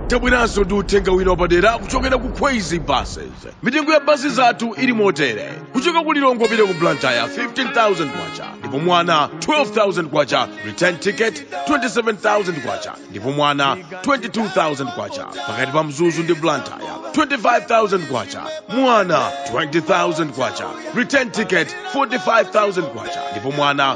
tabweranso ndi uthenga wina wapadera kuchokera ku kwezy buses mitengo ya basi zathu ili motere kuchoka ku lilongwe kupita ku blantyre 15000 kwacha ndipo mwana 12000 kwacha return ticket 27000 kwacha ndipo mwana 22000 kwacha pakati pa mzuzu ndi blantyre 25000 kwacha mwana 20000 kwacha return ticket 45000 kwacha ndipo mwana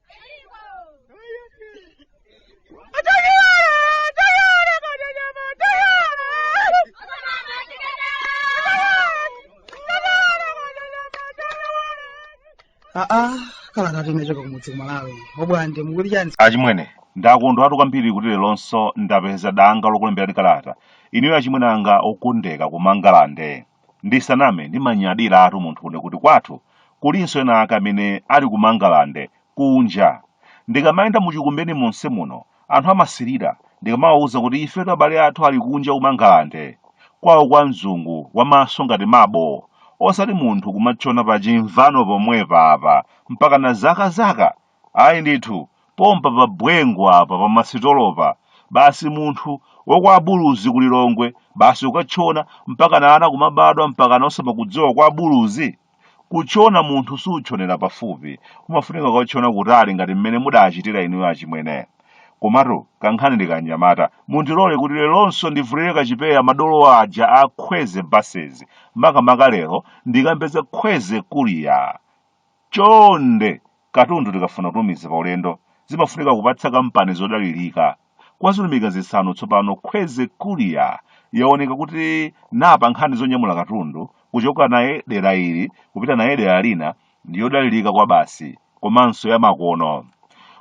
aa kala ngati unachoka kumudzi ku malawi obwande mukuti chani achimwene ndakondwatu kwambiri kuti leronso ndapeza danga lokulemberani kalata inuyo achimwene anga okondeka kumangalande Ndisaname, ndimanyadiratu munthu une kuti kwathu kulinso ena ake amene ali ku Mangalande, kunja. Ndikamayenda mu Chikumbeni monse muno, anthu amasirira ndikamawauza kuti ifetu abale athu ali kunja ku Mangalande, kwawo kwa mzungu wa maso ngati mabo, osati munthu kumatchona pa chimvano pomwepa apa mpakana zaka zaka Ayi ndithu, pompa pa Bwengu apa pa masitolopa, basi munthu wa kwa Buluzi ku Lilongwe basi ukatchona mpakana ana kumabadwa mpakana osamakudziwa kwa Buluzi? Kutchona munthu sutchonera pafupi, umafunika kukatchona kutali ngati mmene mudachitira inuyo achimwene. Komatu kankhani ndi kamnyamata, mundilole kuti leronso ndivulire kachipeya madolo aja a Kwezy Buses, makamaka lero ndikambe za Kwezy Courier. Chonde, Katundu tikafuna kutumiza pa ulendo, zimafunika kupatsa kampani zodalilika. Kwa zilumika zisanu tsopano Kwezy Courier yaoneka kuti napa nkhani zonyamula katundu kuchoka naye dera ili kupita naye dera lina ndi yodalilika kwabasi komanso ya makono.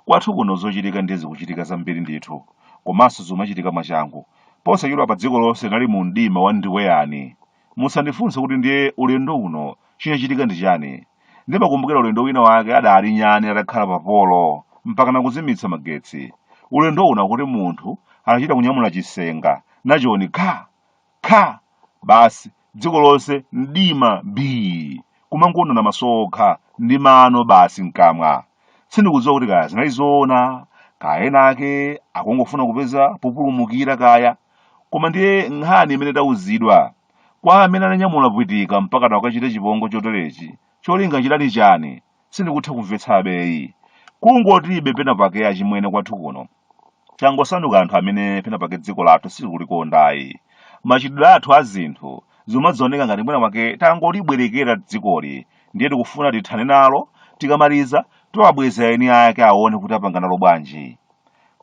Kwathu kuno zochitika ndiye zikuchitika zambiri ndithu komanso zikumachitika mwachangu. Posachedwapa dziko lonse linali mu mdima wa ndiweyani. musandifunse kuti ndiye ulendo uno chinachitika ndi chani ndimakumbukira ulendo wina wake adali nyani atakhala pa polo mpaka nakuzimitsa magetsi ulendo uno akuti munthu anachita kunyamula chisenga nachioni kha kha basi dziko lonse mdima bii kumangoonana maso okha ndi mano basi mkamwa sindikudziwa kuti kaya zinali zoona kaya ena ake akungofuna kupeza populumukira kaya koma ndiye nkhani imene tauzidwa kwa amene ananyamula pwitika mpaka nakukachita chipongwe choterechi cholinga chidali chani sindikutha kumvetsabeyi kungotibe pena pake achimwene kwathu kuno tangosanduka anthu amene pena pake dziko lathu sitikulikondayi machitidwe athu a zinthu zimadzioneka ngati mwina mwake tangolibwerekera dzikoli ndiye tikufuna tithane nalo tikamaliza tiwabweza eni ake aone kuti apanga nalo bwanji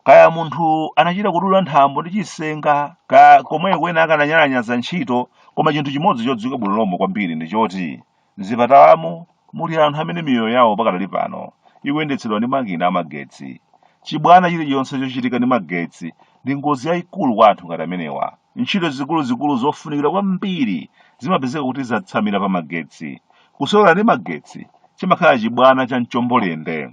kaya munthu anachita kudula nthambo ndi chisenga kaya komweko ena akananyalanyaza ntchito koma chinthu chimodzi chodziwika bwino lomwe kwambiri ndi choti m'zipatalamu muli anthu amene miyoyo yawo pakadali pano ikuyendetsedwa ndi makina amagetsi chibwana chilichonse chochitika ndi magetsi ndi ngozi yayikulu kwa anthu ngati amenewa ntchito zikuluzikulu zofunikira kwambiri zimapezeka kuti zatsamira pa magetsi kusewera ndi magetsi chimakhala chibwana cha mchombolende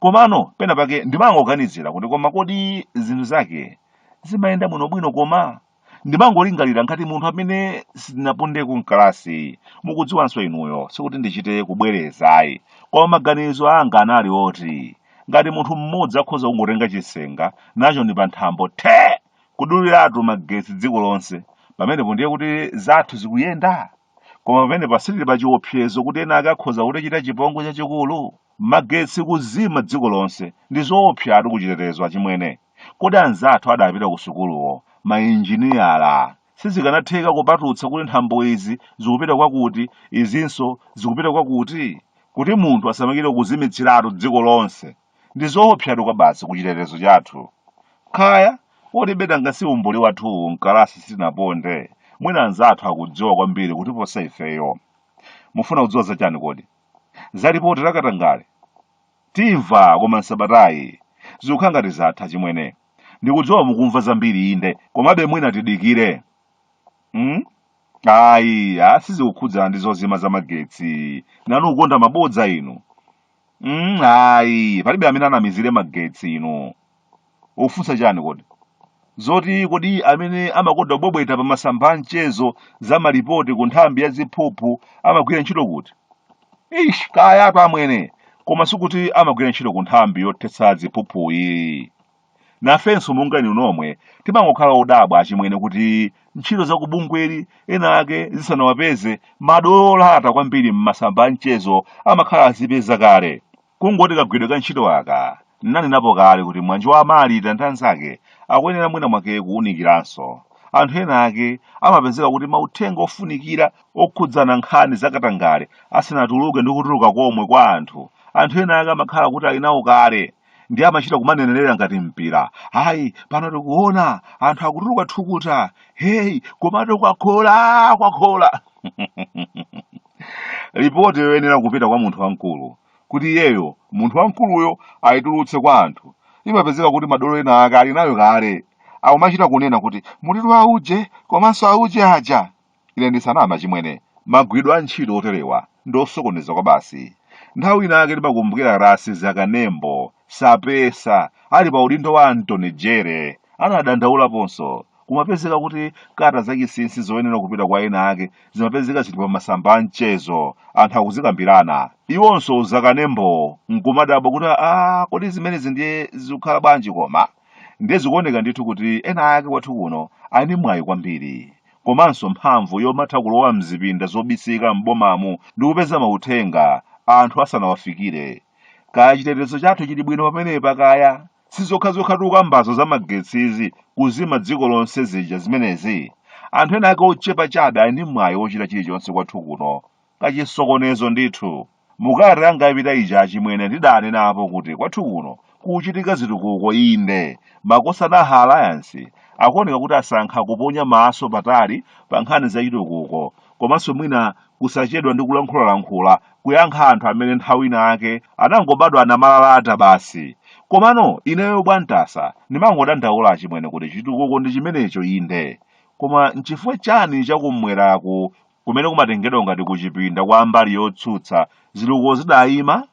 komano pena pake ndimangoganizira kuti koma kodi zinthu zake zimayenda bwinobwino koma ndimangolingalira ngati munthu amene sindinapondeko mkalasi mukudziwanso inuyo sikuti ndichite kubwerezayi koma maganizo anga anali oti ngati munthu mmodzi akhoza kungotenga chisenga nacho ndi pa nthambo the kuduliratu magetsi dziko lonse pamenepo ndiye kuti zathu zikuyenda Koma pamenepa sitili pa chiopsezo kuti ena ake akhoza kutichita chipongwe chachikulu? Magetsi kuzima dziko lonse ndi zoopsatu ku chitetezo achimwene. Kodi anzathu adapita kusukuluwo, mainjiniyala, sizikanatheka kupatutsa kuti nthambo izi zikupita kwakuti, izinso zikupita kwakuti? Kuti munthu asamafikire kuzimitsiratu dziko lonse! Ndi zoopsatu kwabasi ku chitetezo chathu. Kaya, komabe nanga si umbuli wathuwu m'kalasi sitinaponde? Mwina anzathu akudziwa kwambiri kutiposa ifeyo. Mufuna kudziwa za chani kodi? Za lipoti la katangale? Timva koma m'sabatayi. Zikukhala ngati zatha, chimwene. Ndikudziwa mukumva zambiri inde, komabe mwina tidikire. Hmm? Ayi, ah, sizikukhudzana ndi zozima za magetsi. Nanu kukonda mabodza inu. Mm, ayi palibe amene anamizire magetsi inu mufunsa chani kodi zoti kodi amene amakonda kubwebweta pa masamba a mchezo za malipoti ku nthambi ya ziphuphu amagwira ntchito kuti ish kayatu amwene koma sikuti amagwira ntchito ku nthambi yothetsa ziphuphuyi Nafenso monga inu nomwe timangokhala odabwa achimwene kuti ntchito za ku bungweli eni ake zisanawapeze madolo olalata kwambiri m'masamba a mchezo amakhala azipeza kale. Kungoti kagwidwe ka ntchito aka ndinanenapo kale kuti mwanje wa Marita ndi anzake akuyenera mwina mwake kuwunikiranso. Anthu ena ake amapezeka kuti mauthenga ofunikira okhudzana nkhani za katangale asanatuluke ndi kutuluka komwe kwa anthu, anthu ena ake amakhala kuti ali nawo kale. ndiye amachita kumanenerera ngati mpira ayi pano tikuona anthu akutuluka thukuta heyi komatu kwakhola kwakhola lipoti yoyenera kupita kwa munthu wamkulu kuti iyeyo munthu wamkuluyo ayitulutse kwa anthu imapezeka kuti madolo ena ake ali nayo kale akumachita kunena kuti mulitu auje komanso auje aja Ine ndisaname achimwene, magwiridwe a ntchito oterewa ndi osokoneza kwabasi. Nthawi ina yake ndimakumbukira Ras Zakanembo sapesa, ali pa udindo wa Attorney General, anadandaulaponso. Kumapezeka kuti kalata zachinsinsi zoyenera kupita kwa ena ake zimapezeka zili pa masamba a mchezo, anthu akuzikambirana. Iwonso a Zakanembowo n'kumadabwa kuti aa kodi zimenezi ndiye zikukhala bwanji koma? Ndiye zikuoneka ndithu kuti ena ake kwathu kuno ali ndi mwayi kwambiri. komanso mphamvu yomatha kulowa m'zipinda zobisika m'bomamu ndi kupeza mauthenga anthu asanawafikire. Kaya chitetezo chathu chili bwino pamenepa kaya? Si zokhazokha tikukambazo za magetsizi kuzima dziko lonse zija zimenezi? Anthu enaake ochepa chabe ali ndi mwayi wochita chilichonse kwathu kuno. Kachisokonezo ndithu. Mu kalata yanga yapita ija achimwene ndidanenapo kuti kwathu kuno kuchitika zitukuko inde makosana a alliance akuoneka kuti asankha kuponya maso patali pa nkhani za chitukuko komanso mwina kusachedwa ndi kulankhulalankhula kuyankha anthu amene nthawi ina ake anangobadwa anamalalata basi komano ineyo bwantasa ndimangodandaula achimwene kuti chitukuko ndi chimenecho inde koma nchifukwa chani cha kum'mweraku kumene kumatengedwa ngati kuchipinda kwa mbali yotsutsa zitukuko zidayima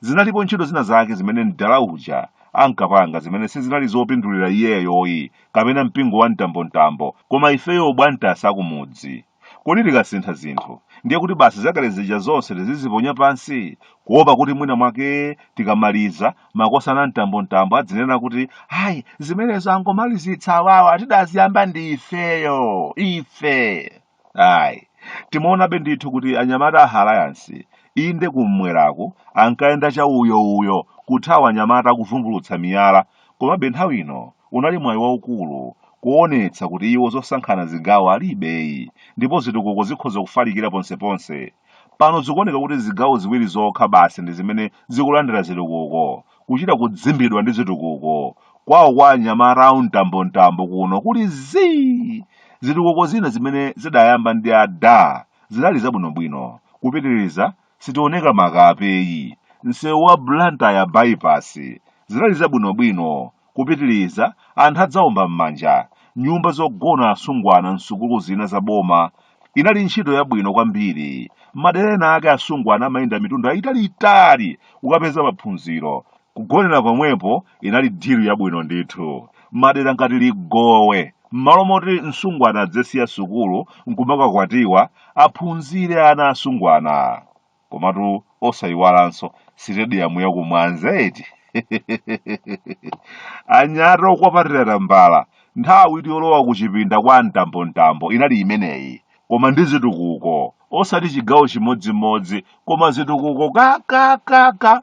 zinalipo ntchito zina zake zimene mdala uja ankapanga zimene sizinali zopindulira iyeyoyi kapena mpingo wa mtambomtambo koma ifeyo bwantasa akumudzi kodi tikasintha zinthu ndiye kuti basi zakale zija zonse tiziziponya pansi kuopa kuti mwina mwake tikamaliza makosana a mtambomtambo adzinena kuti ayi zimenezo angomalizitsa awawa tidaziyamba ndi ifeyo ife ayi timaonabe ndithu kuti anyamata a alliance inde kum'mweraku ankayenda cha uyouyo kuthawa anyamata akuvumbulutsa miyala komabe nthawi ino unali mwayi waukulu kuonetsa kuti iwo zosankhana zigawo alibeyi ndipo zitukuko zikhoza kufalikira ponseponse pano zikuoneka kuti zigawo ziwiri zokha basi ndi zimene zikulandira zitukuko kuchita kudzimbidwa ndi zitukuko kwawo kwa anyamata a mtambomtambo kuno kuli zii zitukuko zina zimene zidayamba ndi ada zinali zabwinobwino kupitiriza sitioneka makapeyi msewu wa blantyre bypass zinali zabwinobwino Kupitiriza, anthu adzaomba m'manja nyumba zogona asungwana m'sukulu zina za boma. Inali ntchito yabwino kwambiri. M'madera ena ake asungwana amayenda mitunda yaitali-itali kukapeza maphunziro. Kugonera pomwepo inali dhilu yabwino ndithu. M'madera ngati Ligowe, m'malo moti msungwana adzisiya sukulu n'kumakakwatiwa, aphunzire ana asungwana. komatu osayiwalanso sitediyamu ya kumwanza eti anyata okwapatira tambala nthawi tiyolowa ku chipinda kwa amtambomtambo inali imeneyi koma ndi zitukuko osati chigawo chimodzimodzi koma zitukuko kakakaka